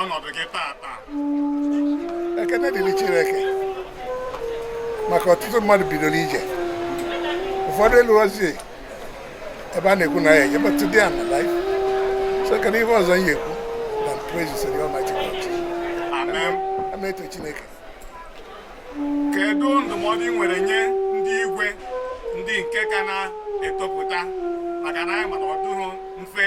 ọnọdụ gị tata ekene dịrị Chineke maka ọtụtụ mmadụ bidoro ije ụfọdụ eluozi ebe a na-ekwu na ya eje but today I'm alive so kedu ihe ọzọ m ga-ekwu than praise the Almighty God ama eto Chineke kedu ndụmọdụ ị nwere nye ndị igwe ndị nke ka na-etopụta maka na anyị ma na ọ dịghị mfe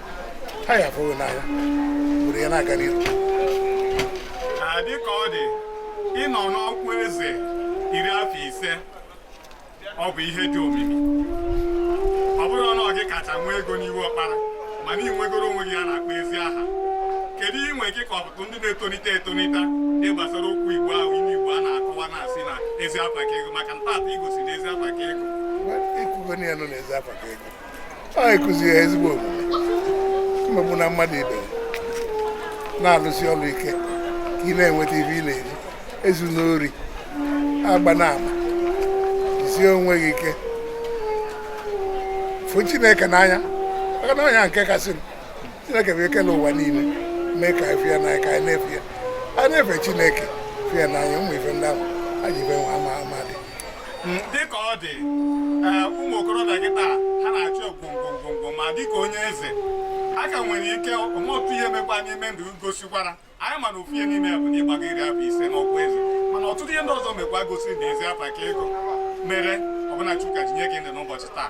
ha ya fụrụ n'anya obodo ya na-aga n'ihu dịka ọ dị ịnọ n'ọkwa eze iri afọ ise ọ bụ ihe dị omimi ọ bụrọ na ọ gị kacha nwee ego n'iwu ọkpara mana ị nwegoro onwe gị ihe a na-akpọ ezi aha kedu inwe gị ka ọtụtụ ndị na-etonite etonite dị gbasara okwu igbo ahụ ime igbo a na-akọwa na-asị na ezi afa ka ego maka na taata ị gosiri na ezi afa ka ego anyị kụziri ha ezigbo omume emegbuna mmadụ ibe na-alụsi ọrụ ike ka ị na-enweta ife ị na-eri ezuna ori agbana ama jisie onwe gị ike fụ chineke n'anya maka na ọ nya nke kasị chineke kelụ ụwa niile mee ka anyị fụ ya n'anya ka anyị na-efe ya anyị na-efe chineke fụ ya n'anya ụmụ ife ndị ahụ anyị ife nwa ama mmadụ dịka ọ dị eh, ụmụ okorobịa kịtaa ha na-achọ ego ngwa ngwa ma dịka onye eze aka nwere ike ọ nwee otu ihe mekwa n'ime ndụ gosikwara anyị ma na ofu ihe n'ime ya bụ na ị gbago iri afọ ise n'ọkwa eze mana ọtụtụ ihe ndị ọzọ mekwa gosiri na ezi afa ka ego mere ọbụna Chukwu ji nye gị ndụ n'ụbọchị taa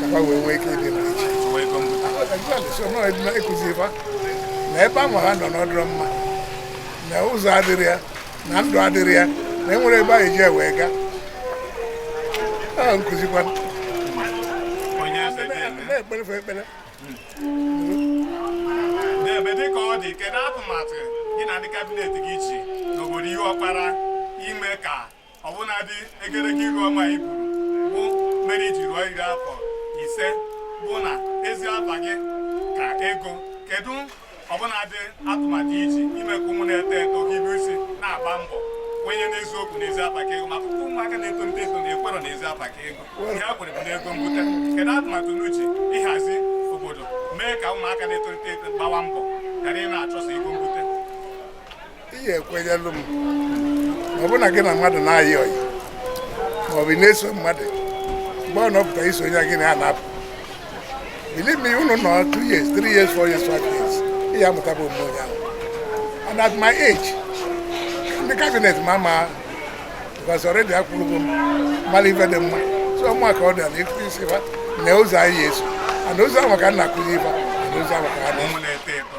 ka ha wee nwee ike ịdị ịkụzi fa na ebe ahụ ha nọ na ọ dịrọ mma na ụzọ adịrọ ya na ndụ adịrọ ya na enwerọ ebe e ji wee gaa a nkụzikwa na-ekpere fa ekpere n'ebe dịka ọ dị kedu atụmatụ gị na ndị kabinet gị ji n'obodo ihe ọkpara ime ka ọbụnadị egerege iru ọma i buru bụ mere i ji ruo iri afọ ise bụ na ezi afa gị ka ego kedu ọbụnadị atụmatụ i ji ime ka ụmụ na-eto eto hibe isi na-agba mbọ kwenye n'eziokwu na ezi afa ka ego maka ụmụaka na-etonite eto na ekwerọ na ezi afa ka ego ihe ha kwere bụ n'ego mbute kedu atụmatụ unu ji ịhazi obodo mee ka ụmụaka na-eto eto gbawa mbọ ghara ị na-achọsa ego mbute ihe ekwenyelụ m ọ bụrụ na gị na mmadụ na-ayị ọyị maọbụ na-eso mmadụ mgbe ọ nọpụta iso onye gị na ya na-apụ believe me unu nọ 2 years 3 years 4 years 5 years ị ya-amụtaba omume onye ahụ and at my age ndị kabinet m ama because already akwụrụgo m mara ife dị mma so ụmụaka ọ dị na ịkụzisi fa na ụzọ a ya-eso and ụzọ ahụ ka m na-akụzi fa na ụzọ ahụ ka ha na-enwe na-eto eto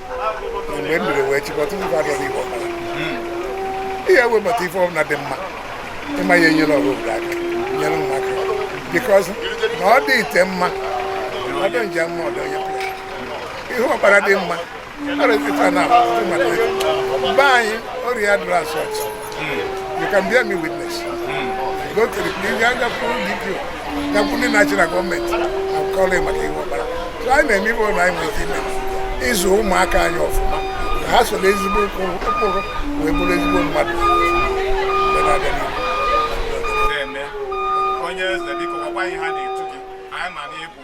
mgbe m biri wee chịkọta ife adọrọ igbo ọbara ihe webata ife ọbụla dị mma ịma ya enyere ọrụ obodo aka nyere m aka bikọz na ọ dị ite mma ọ dị nje mma ọdọ onye pụrụ ihe ọbara dị mma ọrịa ife na mmadụ be anyị ọrịa dụrụ asọt You can bear me witness. Go to the police, you have to give you. Ya bụ ndị national gọọmenti akọla maka ihe ọbara. So anyị na-eme ife niile anyị nwere ime ịzụ ụmụaka anyị ọfụma. Ha soro ezigbo ụkpụrụ wee bụrụ ezigbo mmadụ. Onye eze biko gwakwa anyị aha a na-etu gị. Anyị ma na ịbụ